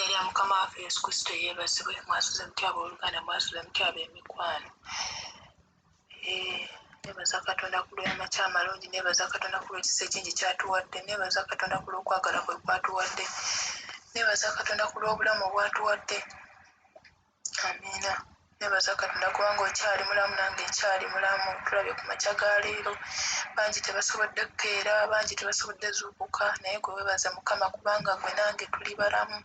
Erya Mukama waffe Yesu Kristo yeebazibwe mwasuze mutya abooluganda mwasuze mutya ab'emikwano nebaza katonda ku lw'amakya amalungi nebaza katonda ku lw'ekisa ekingi kyatuwadde nebaza katonda ku lw'okwagala kwe kwatuwadde nebaza katonda ku lw'obulamu obwatuwadde amiina nebaza katonda kubanga okyali mulamu nange nkyali mulamu tulabye ku makya ga leero bangi tebasobodde kukeera bangi tebasobodde zuukuka naye gwe webaza mukama kubanga gwe nange tuli balamu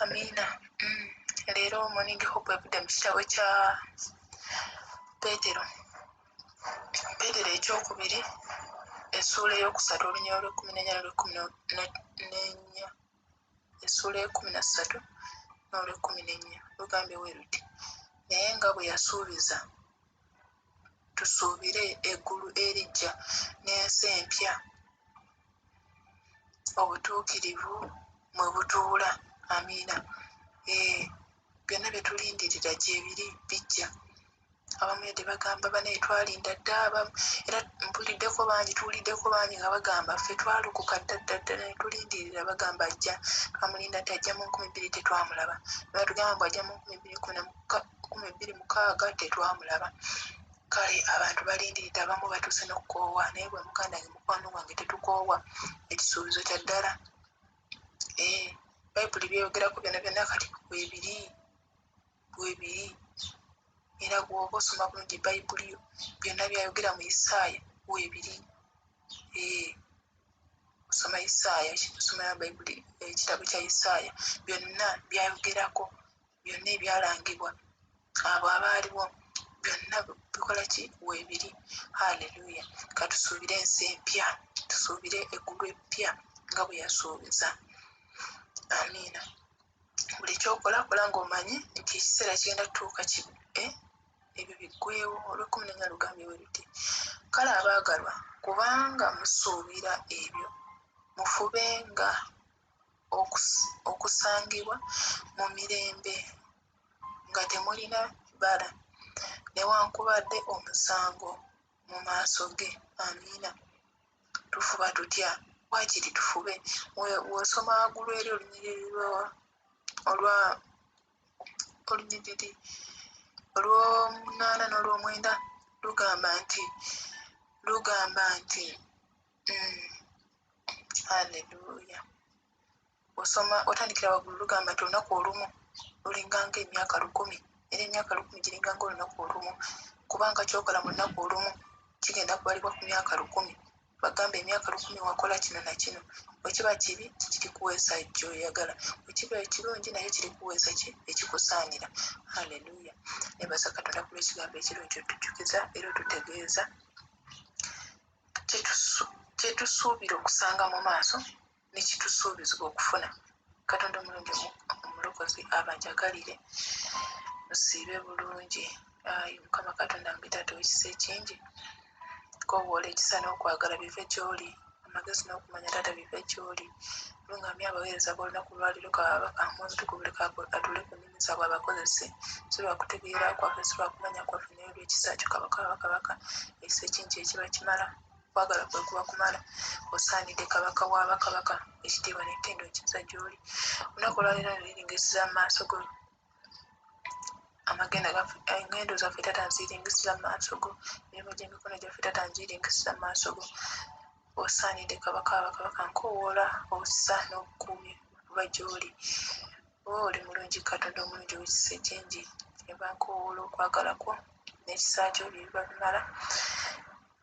amiina mm. leero morning hope evudde mu kitabo kya peetero peetero ekyokubiri essuula eyokusatu olunyolo lwekumi nenya nolwekumi nenya essuula ekumi na ssatu n'olwekkumi n'ennya lugambye bwe luti naye nga bwe yasuubiza tusuubire eggulu eriggya n'ensi empya obutuukirivu mwe butuula amiina ee eh, byonna bye tulindirira gyebiri bijja abamu yadde bagamba banaye twalinda dda abamu era mpuliddeko bangi tuwuliddeko bangi nga bagamba ffe twalokoka dda dda dda naye tulindirira bagamba ajja twamulinda nti ajja mu nkumi bbiri tetwamulaba nebatugamba mbu ajja mu nkumi bbiri kumi bbiri mukaaga tetwamulaba kale abantu balindiridde abamu batuuse nokukoowa naye bwe muganda nge mukwano gwange tetukoowa ekisuubizo kya ddala ee eh, bayibuli byeyogerako byona byona kati kwebiri bwebiri era gwoba osoma bulungi bayibuli yo byonna byayogera mu isaaya webiri ee osoma isaaya osoma bayibuli ekitabo kya isaaya byonna byayogerako byonna ebyalangibwa abo abaaliwo byonna bikola ki webiri haleluya katusuubire ensi empya tusuubire eggulu eppya nga bwe yasuubiza amiina buli kyokola kola ngaomanyi nti ekiseera kigenda tutuuka eh, ebyo biggwewo olwekumi nenya lugambye weruti kale abaagalwa kubanga musuubira ebyo mufube nga okusangibwa mu mirembe nga temulina bbala newankubadde omusango mu maaso ge amiina tufuba tutya wakiri tufube wosoma wagulu eri olunyiriri lwawa olwa olunyiriri olwomunaana n'olwomwenda lugamba nti lugamba nti mm, haleluya osoma otandikira waggulu lugamba nti olunaku olumu lulinganga emyaka lukumi era emyaka lukumi giringanga olunaku olumu kubanga kyokola mu lunaku olumu kigenda kubalibwa ku myaka lukumi bagamba emyaka lukumi wakola kino nakino wekiba kibi kirikuweesa gyoyagala wekiba ekirungi naye kirikuweesa ki ekikusaanira haleluya nebaza katonda kuba ekigambo ekirungi otujukiza era otutegeeza kyetusuubira okusanga mu maaso nekitusuubizibwa okufuna katonda omulungi omulokozi abajagalire musiibe bulungi ayi mukama katonda mbitaata owekisa ekingi kowoola ekisa n'okwagala bive gyoli amagezi n'okumanya taata bive gyoli lungamya abaweereza b'olunaku lwaliro kababa amu obutuku buli kago atule ku nnimi zaabwe abakozese si lwakutegeera kwaffe si lwakumanya kwaffe naye olwekisa kyo kabaka wabakabaka ekisa ekingi ekiba kimala okwagala kwe kuba kumala osaanidde kabaka wa bakabaka ekitiibwa n'ettendo ekiza gy'oli olunaku olwaleero neringisira mu maaso go amagenda gaffe engendo zaffe tata nziringisira mu maaso go emirimu gy'emikono gyaffe tata ngiringisira mu maaso go osaanidde kabaka wa bakabaka nkowoola obusa n'obukuumi buba gy'oli oba oli mulungi katonda omulungi owekisa ekingi eba nkowoola okwagala kwo n'ekisa kyo bye biba bimala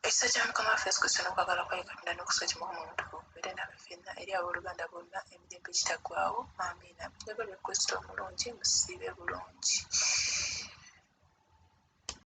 Ekisa kya Mukama waffe Yesu Kristo n'okwagala kwa Katonda n'okusika kimukama omutukuvu kubeere naffe ffenna eri abooluganda bonna emirembe egitaggwaawo. Amiina. Njagala Kristo omulungi musiibe bulungi.